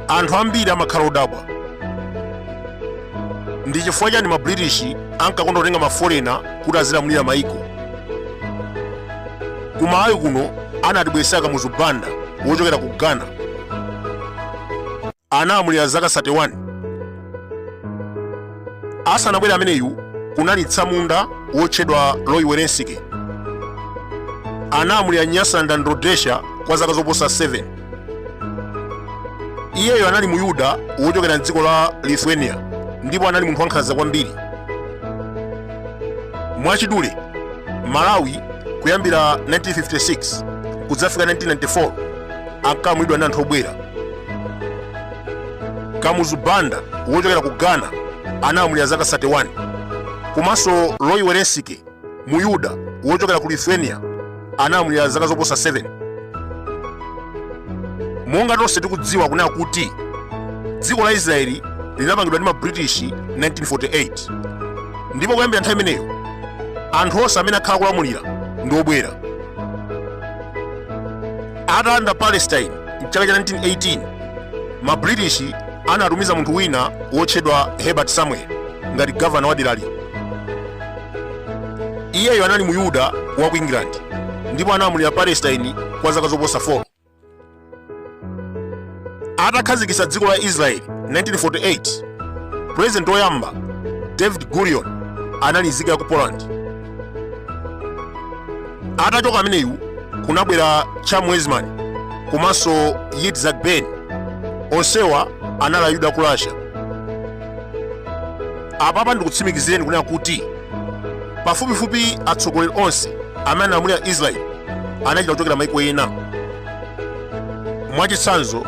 anthu ambiri amakhala odabwa ndi chifukwa chani ma british ankakonda kutenga maforena kuti azilamulira maiko kumalawi kuno anatibweretsera kamuzu banda wochokera ku ghana Analamulira zaka 31. Asanabwere ameneyu, kunali tsamunda wotchedwa Roy Welensky. Analamulira Nyasaland and Rhodesia kwa zaka zoposa 7. Iyeyo anali Muyuda wochokera m'dziko la Lithuania ndipo anali munthu wankhanza kwambiri. Mwachidule, Malawi kuyambira 1956 kudzafika 1994 ankalamulidwa ndi anthu obwera. kamuzu banda wochokera ku ghana analamulira zaka 31 komanso roy welensky muyuda wochokera ku lithuania analamulira zaka zoposa 7 monga tonse tikudziwa kunena kuti dziko la israeli linapangidwa ndi mabritish 1948 ndipo kuyambira nthawi imeneyo anthu onse amene akhala akulamulira ndi obwera atalanda palestine mchaka cha 1918 ma british anatumiza munthu wina wotchedwa herbert samuel ngati gavana wa derali iyeyo anali mu yuda wa ku england ndipo analamulira palestine kwa zaka zoposa 4 atakhazikitsa dziko la israeli 1948 pulezidenti woyamba david gurion anali nzika ya ku poland atachoka ameneyu kunabwera chaim weizmann komanso yitzhak ben onsewa anali ayuda a ku russia apapa ndikutsimikizireni kunena kuti pafupifupi atsogoleri onse amene analamulira israeli anachita kuchokera maiko ena Mwachitsanzo,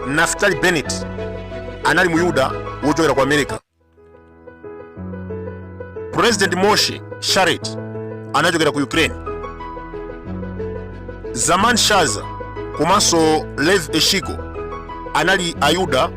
Naftali Bennett anali Muyuda wochokera ku America. President Moshe Sharett anachokera ku Ukraine. Zalman Shazar komanso Levi Eshkol anali Ayuda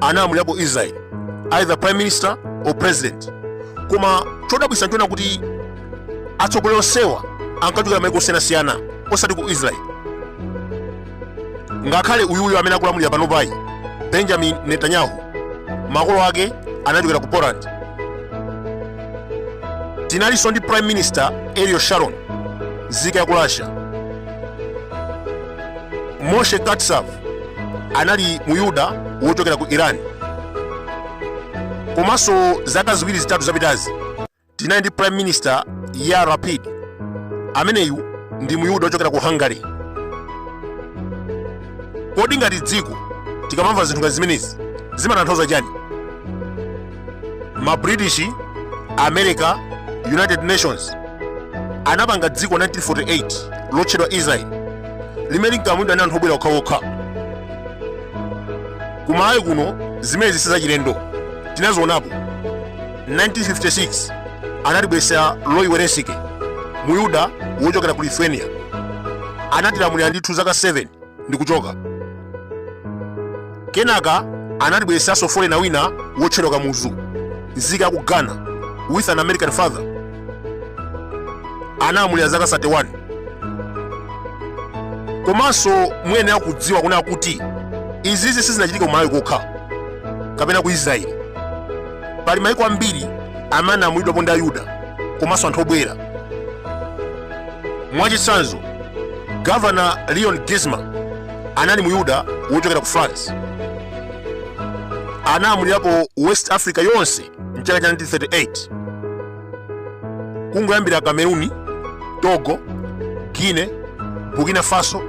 analamulirapo israel either prime minister or president koma chodabwitsa nchonena kuti atsogoleri onsewa ankachokera maiko osiyanasiyana osati ku israel ngakhale uyuyu amene akulamulira panopayu benjamin netanyahu makolo ake anachokera ku poland tinalinso ndi prime minister ariel sharon nzika ya ku russia moshe katsav anali muyuda wochokera ku iran komanso zaka ziwiri zitatu zapitazi tinali ndi prime minister yair lapid ameneyu ndi muyuda wochokera ku hungary kodi ngati dziko tikamamva zinthu ngati zimenezi zimatanthauza chani ma british america united nations anapanga dziko 1948 lotchedwa israel limene linkalamulidwa ndi anthu obwera okhaokha kumalawi kuno zimenezi sizachilendo tinazionapo 1956 anatibweretsera roy welensky muyuda wochokera ku lithuania anatilamulira ndithu zaka 7 ndi kuchoka. Kenaka anatibweretsanso foreigner wina wotchedwa Kamuzu, nzika ya ku Ghana, with an American father. Analamulira zaka 31. Komanso muyenera kudziwa kunena kuti izizi sizinachitike ku Malawi kokha kapena ku Israeli. Pali mayiko ambiri amene analamulidwapo ndi Ayuda komanso anthu obwera. Mwachitsanzo, Governor Leon Geismar anali muyuda wochokera ku France. Analamulirapo West Africa yonse mchaka cha 1938. Kungoyambira Kameruni, Togo, Guinea, Burkina Faso,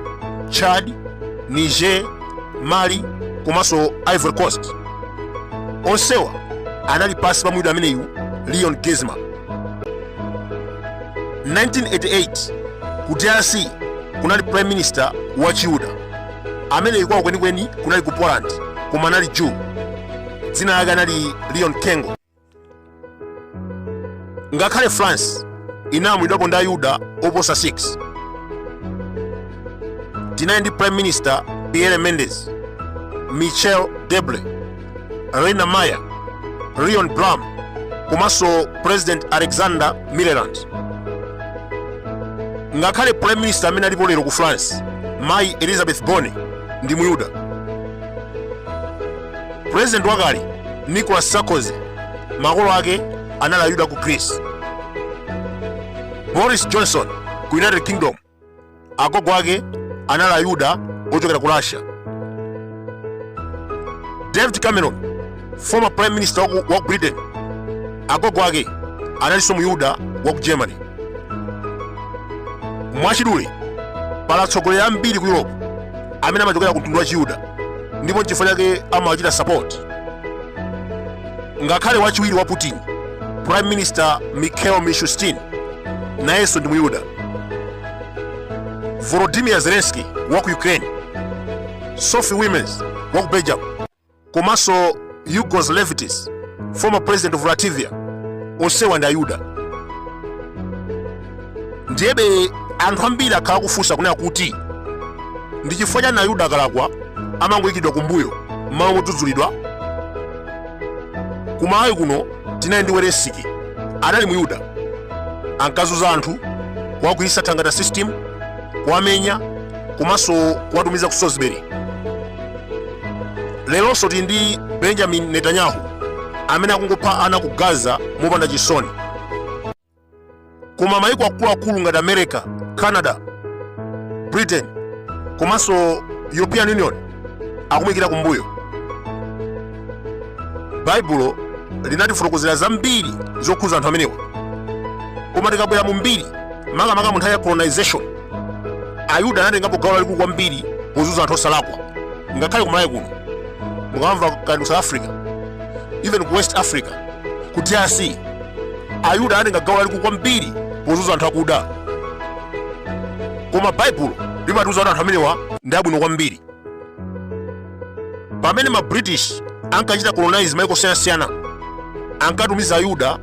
Chad, Niger, Mali komanso Ivory Coast. Onsewa anali pansi pa muyuda ameneyu Leon Geismar. 1988 ku drc kunali prime minister wa chiyuda amene kwawo kwenikweni kunali ku poland koma anali jew dzina lake anali leon kengo ngakhale france inalamulidwapo ndi ayuda oposa 6 tinali ndi prime minister pierre mendes michel debre rene mayer leon blum komanso president alexander millerand ngakhale prime minister amene alipo lero ku france mayi elisabeth borne ndi muyuda president wakale nicolas sarkozy makolo ake anali ayuda ku greece boris johnson ku united kingdom agogo ake anali ayuda ochokera ku russia david cameron former prime minister waku britain agogo ake analinso muyuda waku germany mwachidule pali atsogoleri ambiri ku europe amene amachokera ku mtundu wa chiyuda ndipo nchifukwa chake amawachita support ngakhale wachiwiri wa putin prime minister mikhail mishustin nayenso ndi muyuda volodimir zelenski wa ku ukraine sophie wilmes wa ku belgium komanso egils levits former president of latvia onsewa ndi ayuda ndiyebe anthu ambiri akhala kufunsa kunena kuti ndi chifukwa chani ayuda akalakwa amangoyikidwa kumbuyo mmalo modzudzulidwa kumalawi kuno tinali ndi welensky anali muyuda ankazunza anthu kuwagwiritsa thangata system kuwamenya komanso kuwatumiza ku salisbury leronso tili ndi benjamin netanyahu amene akungopha ana ku gaza mopanda chisoni koma mayiko akuluakulu ngati america canada britain komanso european union akumuyikira kumbuyo baibulo linatifotokozera zambiri zokhuza anthu amenewa koma tikabwera mu mbiri makamaka mu nthawi ya colonization ayuda anatengapo gawo lalikulu kwambiri pozunza anthu osalakwa ngakhale kumalawi kuno mukamva kaya ku south africa even ku west africa ku drc ayuda anatenga gawo lalikulu kwambiri pozunza anthu akuda koma baibulo limatiuza kuti anthu amenewa ndi abwino kwambiri pamene ma british ankachita colonize maiko osiyanasiyana ankatumiza ayuda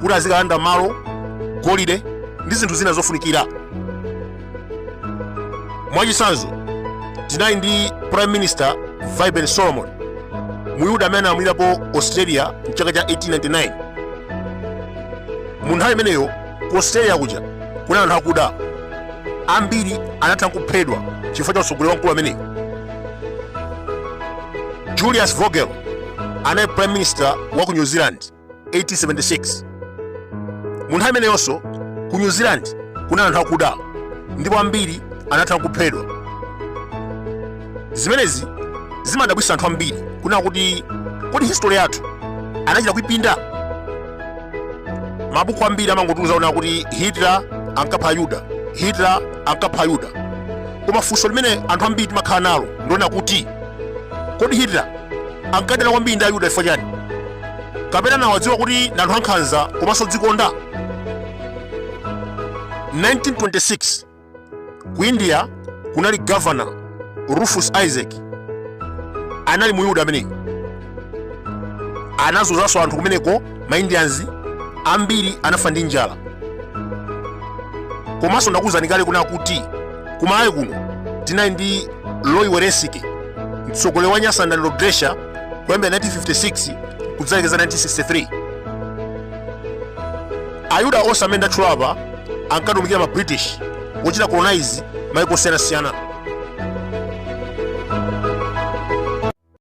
kuti azikalanda malo golide ndi zinthu zina zofunikira mwachitsanzo tinali ndi prime minister vaiben solomon muyuda amene analamulirapo australia mchaka cha 1899 mu nthawi imeneyo ku australia kuja kunali anthu akuda ambiri anatha kuphedwa chifukwa cha utsogoleri wa mkulu ameneyi julius vogel anali prime minister wa ku new zealand 1876 mu nthawi imeneyonso ku new zealand kunali anthu akuda ndipo ambiri anatha kuphedwa zimenezi zimadabwitsa anthu ambiri kunena kuti kodi history yathu anachita kuipinda mabuku ambiri amangotiuza kunena kuti hitler ankapha ayuda hitler ankapha ayuda koma funso limene anthu ambiri timakhala nalo ndi lonena kuti kodi hitler ankadana kwambiri ndi ayuda chifukwa chani kapena anawadziwa kuti ndi anthu ankhanza komanso odzikonda 1926 ku india kunali governor rufus isaacs anali muyuda ameneyo anazunzanso anthu kumeneko maindians ambiri anafa ndi njala komanso ndakuwuzani kale kunena kuti kumalawi kuno tinali ndi Roy Welensky mtsogoleri wa Nyasaland Rhodesia kuyambira 1956 kudzalekeza 1963 ayuda onse amene ndatchula apa ankatumikira ma british wochita colonize maiko osiyanasiyana